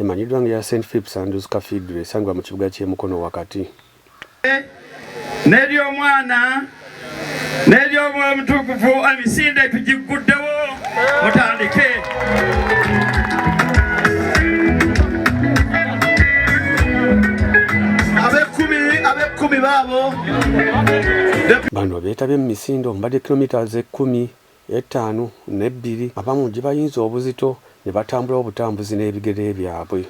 Emanyiddwa nga eya Saint Phipps Andrews Cathedral esangibwa mu kibuga ky'e Mukono wakati. N'ery'omwana n'ery'omwoyo mutukuvu emisinde tugigguddewo mutandike. Bano beetabye mu misinde omubadde kilometres ekkumi ettaano n'ebbiri abamu gye bayinza obuzito ne batambula obutambuzi n'ebigere byabwe.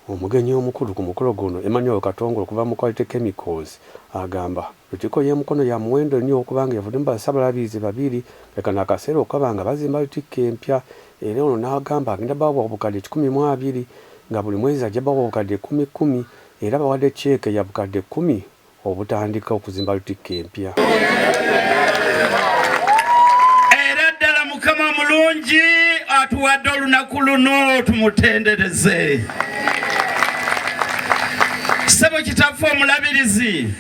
Omugenyi omukulu ku mukolo guno, Emmanuel Katongole okuva mu Quality Chemicals agamba, Lutikko y'e Mukono ya muwendo nnyo okuba ng'evudde mu Bassabalabirizi babiri nga kano akaseera okukaba nga bazimba Lutikko empya era ono n'agamba agenda bawa obukadde kikumi mu abiri nga buli mwezi ajja bawa obukadde kkumi kkumi era bawadde ceeke ya bukadde kkumi obutandika okuzimba lutikko empya. Era ddala Mukama omulungi atuwadde olunaku luno tumutendereze. Ssebo Kitaffe Omulabirizi,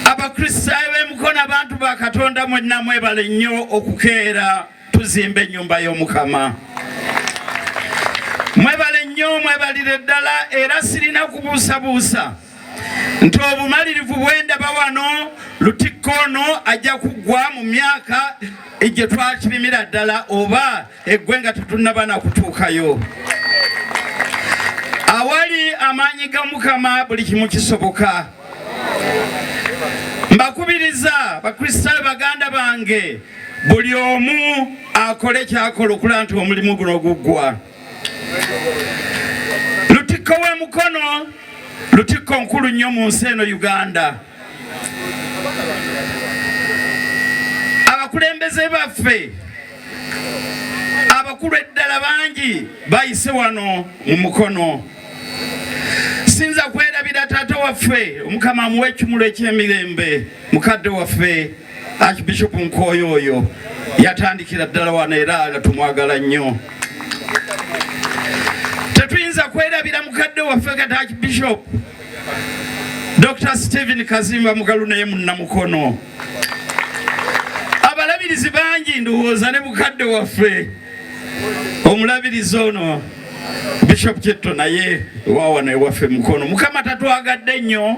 Abakristaayo b'e Mukono, abantu ba Katonda mwenna mwebale nnyo okukeera. tuzimba ennyumba y'omukama mwebale nnyo mwebalire ddala era sirina kubuusabuusa nti obumalirivu bwendaba wano lutikko ono ajja kuggwa mu myaka gye twakirimira ddala oba eggwe nga tetunnaba na kutuukayo awali amaanyi ga mukama buli kimu kisoboka mbakubiriza bakristaayo baganda bange buli omu akole kyakola okulaba nti omulimu guno guggwa lutikko w'e mukono lutikko nkulu nnyo mu nsi eno uganda abakulembeze baffe abakulu eddala bangi bayise wano mu mukono sinza kwerabira taata waffe omukama amuwa ekimulu ekyemirembe mukadde waffe archbishop nkooyo oyo yatandikira ddala wano era nga tumwagala nnyo tetuyinza kwerabira mukadde waffe kati archbishop dr stephen kazimba mugalu naye munnamukono abalabirizi bangi ndowooza ne mukadde waffe omulabirizi ono Bishop Kitto naye wawano ewaffe Mukono mukama tatwagadde nnyo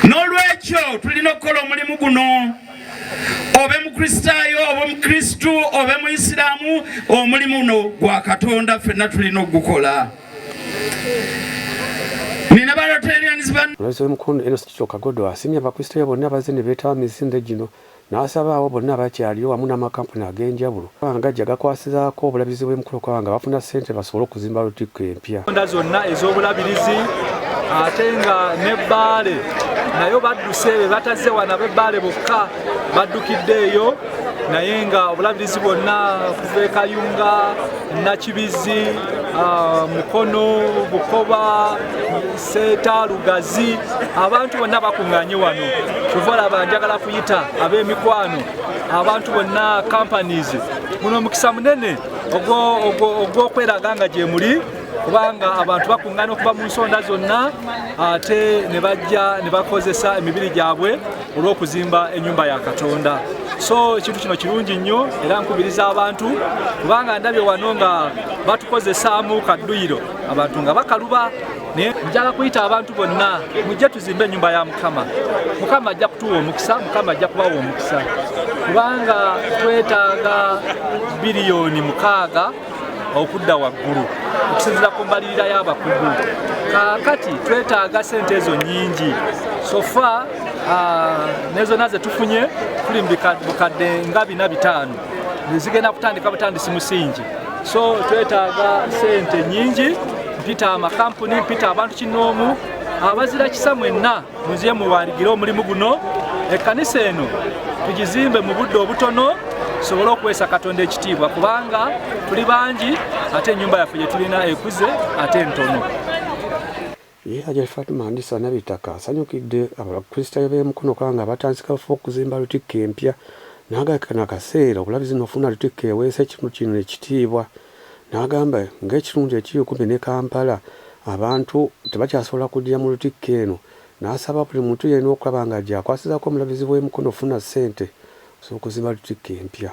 n'olwekyo tulina okukola omulimu guno obe mukristaayo oba omukristu obe muisiraamu omulimu guno gwa katonda ffenna tulina okugukola Lweze mukulu eno sikikyo kagodo asimye abakristaayo bonna bazze ne beetaba misinde gino N'asaba abo bonna abakyaliyo wamu n'amakampuni ag'enjawulo okuba nga gajja gakwasizaako obulabirizi bw'emikolo okuba nga bafuna ssente basobole okuzimba Lutikko empya. Ensonda zonna ez'obulabirizi ate nga ne Bbaale nayo badduse be batazze wano ab'e Bbaale bokka baddukidde eyo naye nga obulabirizi bwonna kuva e Kayunga, Nakibizzi, ah, Mukono, Bukoba seeta lugazi abantu bonna bakuŋŋanye wano kyova olaba njagala kuyita ab'emikwano abantu bonna companies guno omukisa munene ogw'okweraga nga gye muli kubanga abantu bakuŋŋana okuva mu nsonda zonna ate ne bajja ne bakozesa emibiri gyabwe olw'okuzimba ennyumba ya katonda so ekintu kino kirungi nnyo era nkubiriza abantu kubanga ndabye wano nga batukozesaamu kadduyiro abantu nga bakaluba naye njala kuyita abantu bonna mujje tuzimbe ennyumba ya mukama mukama ajja kutuwa omukisa mukama ajja kubawa omukisa kubanga twetaaga biliyoni mukaaga okudda waggulu okusinzira ku mbalirira y'abakugu kakati twetaaga sente ezo nyingi sofa ah, nezona zetufunye tuli mu bukadde nga bina bitaano zigenda kutandika butandisi musingi so twetaaga sente nyingi mpita amakampuni mpita abantu kinoomu abazira kisa mwenna muziye muwaligire omulimu guno ekkanisa eno tugizimbe mu budde obutono tusobole okuweesa katonda ekitiibwa kubanga tuli bangi ate ennyumba yaffe gyetulina ekuze ate ntono Ye Hajati Fatumah Ndisa Nabitaka asanyukidde Abakristaayo b'e Mukono Kanga abatandise kaweefube w'okuzimba Lutikko empya n'agamba kano akaseera obulabirizi n'okufuna Lutikko eweesa ekitundu kino ekitiibwa n'agamba ng'ekitundu ekiri okumpi ne Kampala abantu tebakyasobola kuddira mu Lutikko eno n'asaba buli muntu yenna okulaba nga gy'akwasizaako Omulabirizi w'e Mukono okufuna ssente okusobola okuzimba Lutikko empya.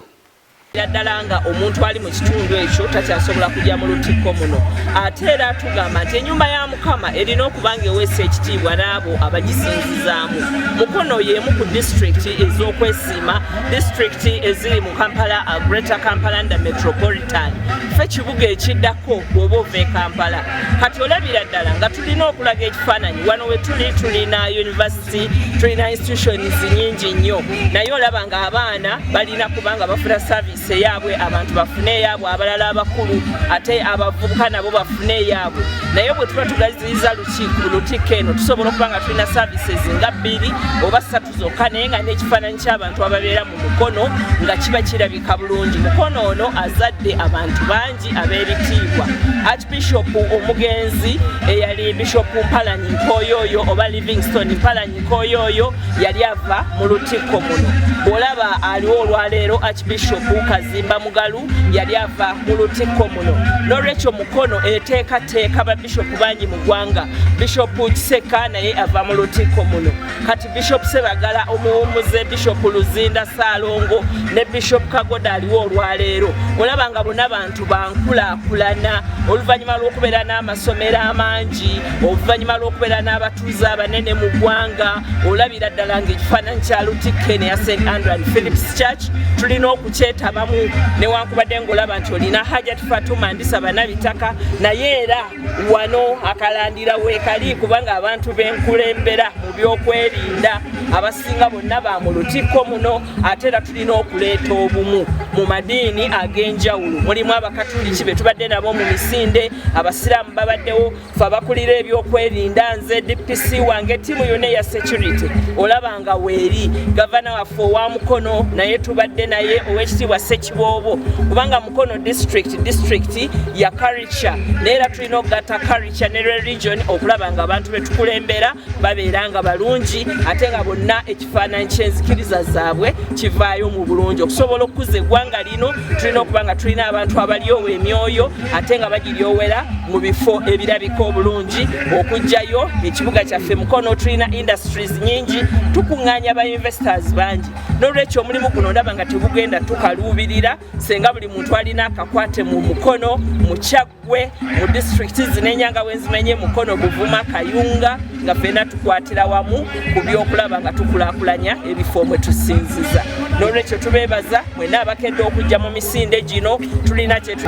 era ddala nga omuntu ali mu kitundu ekyo takyasobola kujja mu lutikko muno ate era tugamba nti enyumba ya mukama erina okuba nga eweesa ekitiibwa n'abo abagisinzizaamu mukono y'emu ku disitulikiti ez'okwesiima disitulikiti eziri mu kampala uh, greater kampala nda metropolitan fe kibuga ekiddako bwoba ova e kampala kati olabira ddala nga tulina okulaga ekifaananyi wano we tuli tulina univesity university tulina institutions nyingi nnyo naye olaba nga abaana balina kubanga bafuna service eyaabwe abantu bafune eyaabwe abalala abakulu ate abavubuka nabo bafune eyaabwe naye bwe tuba tugaziyiza lukiiko lutikko eno tusobola okuba nga tulina services nga bbiri oba ssatu zokka naye nga n'ekifaananyi ky'abantu ababeera mu mukono nga kiba kirabika bulungi mukono ono azadde abantu bangi ab'ebitiibwa archbishop omugenzi eyali bishop mpalanyi nkoyoyo oba livingston mpalanyi nkoyoyo yali ava mu lutikko muno bwolaba aliwo olwaleero archbishop kazimba mugalu yali ava mu lutikko muno nolwekyo mukono eteekateeka babishopu bangi mu ggwanga bishopu kiseka naye ava mu lutikko muno kati bishop sebagala omuwumuze bishop luzinda salongo ne bishop kagoda aliwo olwaleero olaba nga bona bantu bankulakulana oluvannyuma lw'okubeera n'amasomero amangi oluvannyuma lw'okubeera n'abatuuze abanene mu ggwanga olabira ddala nga ekifaananyi kya lutikke neya st andrew and philips church tulina okukyetabamu newankubadde ngaolaba nti olina hajat fatuma ndisaba nabitaka naye era wano akalandira weekali kubanga abantu benkulembera mu byokwerinda abasinga bonna ba mu lutikko muno ate era tulina okuleeta obumu mu madiini ag'enjawulo mulimu abakatuliki be tubadde nabo mu misinde abasiraamu babaddewo fe abakulira ebyokwerinda nze dpc wange tiimu yona eya security olaba nga weeri gavana waffe owa mukono naye tubadde naye owekitiibwa sekiboobo kubanga mukono district district yakari naye era tulina okugatta karica ne religion okulaba nga abantu betukulembera babeera nga balungi ate nga bonna ekifaananyi kyenzikiriza zaabwe kivaayo mu bulungi okusobola okukuza eggwanga lino tulina okuba nga tulina abantu abalyowa emyoyo ate nga bagiryowera mu bifo ebirabika obulungi okugjayo ekibuga kyaffe mukono tulina industries nyingi tukuŋŋaanya ba investors bangi n'olwekyo omulimu guno ndaba nga tegugenda tukaluubirira senga buli muntu alina akakwate mu mukono mu kyaggwe mu disitulikiti zinenyanga wenzimenye mukono buvuma kayunga nga fena tukwatira wamu ku byokulaba nga tukulakulanya ebifo mwe tusinziza nolwekyo tubebaza mwena abakedde okujja mu misinde gino tulina kyetu